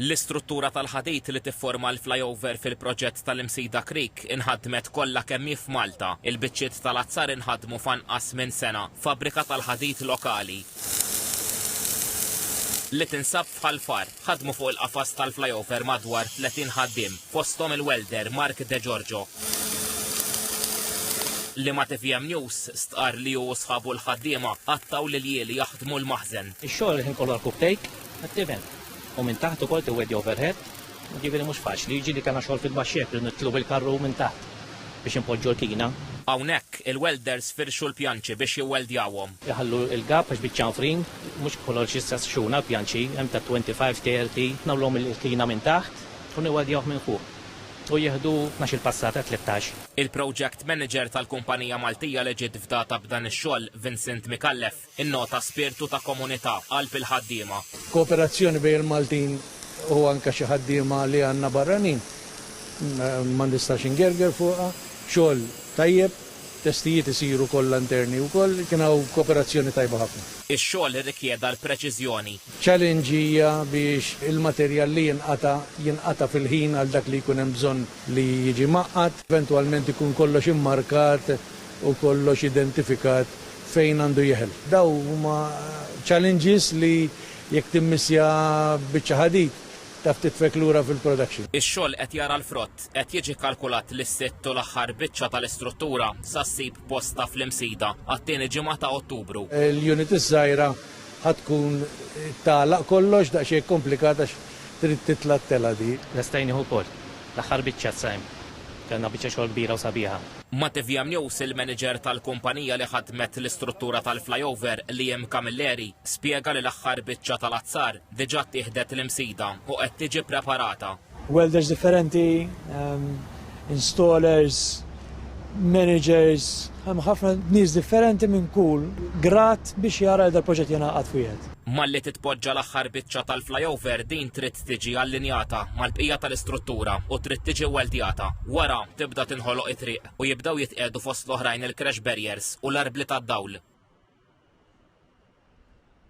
L-istruttura tal-ħadid li tifforma l-flyover fil-proġett tal-Imsida Creek inħadmet kollha kemm hi f'Malta. Il-biċċiet tal-azzar inħadmu f'anqas minn sena f'fabbrika tal-ħadid lokali li tinsab f'Ħal Far. Ħadmu fuq il-qafas tal-flyover madwar 30 ħaddiem, fosthom il-welder Mark De Giorgio, li ma' tvm News stqarr li hu u sħabu l-ħaddiema qattgħu l-iljieli jaħdmu l-maħżen. Ix-xogħol il-ħin kollu għall-cooktake, Għat-tiven. U minn taħt ukoll tiwedi overhead, jiġifieri mhux faċli, jiġieli kellna xogħol fil-baxx hekk li nitlu bil-karru minn taħt biex inpoġġu l-kina. Hawnhekk, il-welders firxu l-pjanċi biex jiwweldjawhom. Iħallu l-gap għax biċ-ċanfrin, mhux kollox jista' xxun għall-pjanċi, hemm ta' 25, 30. Nagħmluhom il-kina minn taħt u niweldjawh minn fuq. U jieħdu tnax-il passata, tlettax. Il-project manager tal-kumpanija Maltija li ġiet fdata b'dan ix-xogħol, Vincent Micallef, Innota spirtu ta' komunità, qalb il-ħaddiema. Kooperazzjoni bejn il-Maltin u anke xi ħaddiema li għandna barranin ma nistax ingerger fuqha. Xogħol tajjeb, testijiet isiru kollha interni wkoll, kien hawn kooperazzjoni tajba ħafna. Ix-xogħol irrikjeda l-preċiżjoni. Challenge hija biex il-materjal li jinqata' jinqata' fil-ħin għal dak li jkun hemm bżonn li jiġi mgħaqqad. Eventwalment ikun kollox immarkat u kollox identifikat fejn għandu jeħel. Daw huma challenges li jekk timmissja biċċa ħadid taf titfek lura fil-production. Ix-xogħol qed jara l-frott, qed jiġi kkalkulat li s-sitt u l-aħħar biċċa tal-istruttura sa ssib postha fl-Imsida għat-tieni ġimgħa ta' Ottubru. L-unit iż-żgħira ħa tkun tagħlaq kollox, daqsxejn komplikat għax trid titla' t-telgħa di. Lesta jien nieħu wkoll l-aħħar biċċa t-sajm. Kellna biċċa xogħol kbira u sabiħa. Matevija Mnews, il-manager tal-kumpanija li ħaddmet l-istruttura tal-flyover, Liam Camilleri, spjega li l-aħħar biċċa tal-azzar diġà ttieħdet l-Imsida u qed tiġi preparata. Welders differenti, installers, managers, hemm ħafna nies differenti minn kull grad biex jara li dal-proġett jingħaqad f'wieħed. Malli titpoġġa l-aħħar biċċa tal-flyover din trid tiġi allinjata mal-bqija tal-istruttura u trid tiġi weldjata. Wara, tibda tinħoloq it-triq u jibdew jitqiegħdu fost l-oħrajn il-crash barriers u l-arbli tad-dawl.